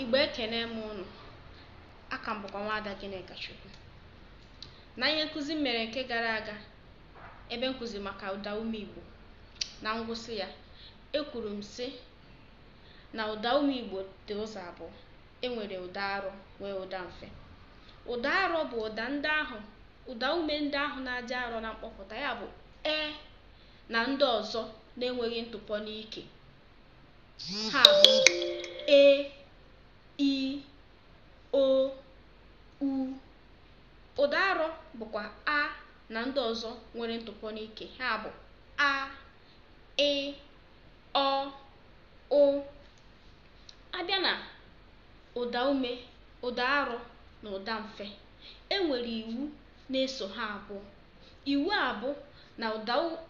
Igbo ekene m ụnụ, aka m bụkwa nwaada Gịnịkachukwu. Na ihe nkụzi m mere nke gara aga ebe m kụziri maka ụdaume Igbo, na ngwụsị ya ekwuru m sị na ụdaume Igbo dị ụzọ abụọ, e nwere ụda arọ nwee ụda mfe. Ụda arọ bụ ụda ndị ahụ ụdaume ndị ahụ na-adị arọ na mkpọpụta ya bụ e na ndị ọzọ na-enweghị ntụpọ n'ike. ha bụ e i o u ụda arọ bụkwa a na ndị ọzọ nwere ntụpọ n'ike ha bụ a ị ọ ụ a bịa na ụda ume ụda arọ na ụda mfe e nwere iwu na-eso ha abụọ iwu a bụ na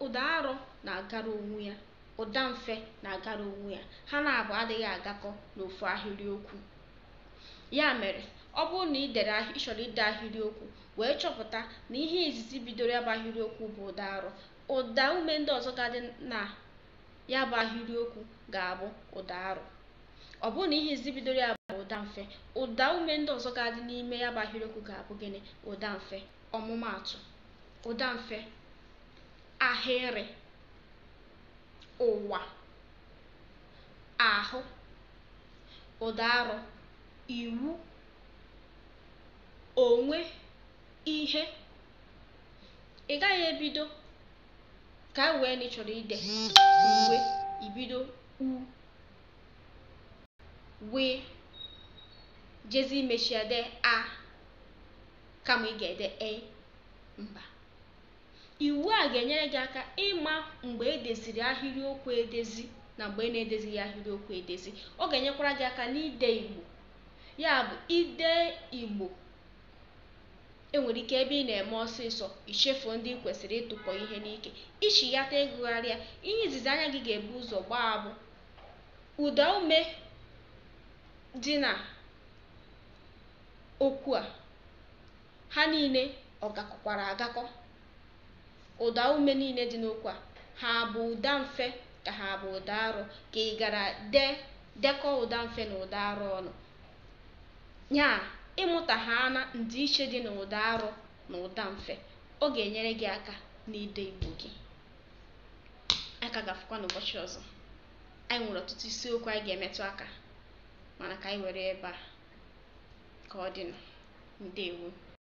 ụda arọ na-agara onwe ya Ụdamfe na-agara onwe ya. Ha naabọ adịghị agakọ n'ofu ahịrịokwu. Ya mere, ọ bụrụ na i dere ị chọrọ ide ahịrịokwu wee chọpụta na ihe izizi bidoro ya bụ ahịrịokwu bụ ụdaarọ, ụdaume ndị ọzọ ga-adị na ya bụ ahịrịokwu ga-abụ ụdaarọ. Ọ bụrụ na ihe izizi bidoro ya bụ ụdamfe, ụdaume ndị ọzọ ga-adị n'ime ya bụ ahịrịokwu ga-abụ gịnị? Ụdamfe. Ọmụmaatụ, ụdamfe Ahịrị, ụwa, ahụ, ụdaarọ, iwu, onwe, ihe. Ị gaghị ebido ka e wee na ị chọrọ ide uwe i bido u wee jezi imechi ya dee a kama ị ga-ede e mba Iwu a ga-enyere gị aka ịma mgbe e deziri ahịrịokwu edezi na mgbe e na-edezighị ahịrịokwu edezi. Ọ ga-enyekwara gị aka n'ide Igbo. Ya bụ, ide Igbo, e nwere ike ebe ị na-eme ọsịsọ, i chefuo ndị i kwesịrị ịtụpọ ihe n'ike. I chighata ịgụgharị ya, ihe izizi anya gị ga-ebu ụzọ gbaa bụ ụdaume dị na okwu a. Ha niile ọ gakọkwara agakọ? Ụda ume niile dị n'okwu a, ha bụ ụda mfe ka ha bụ ụda arọ? Ka ị gara dee dekọọ ụda mfe na ụda arọ ọnụ. Ya ịmụta ha na ndịiche dị n'ụda arọ na ụda mfe, ọ ga-enyere gị aka n'ide Igbo gị. Anyị ka ga-afụkwa n'ụbọchị ọzọ. Anyị nwere ọtụtụ isiokwu anyị ga-emetụ aka. mana ka anyị were ebe a ka ọ dịnụ ndewo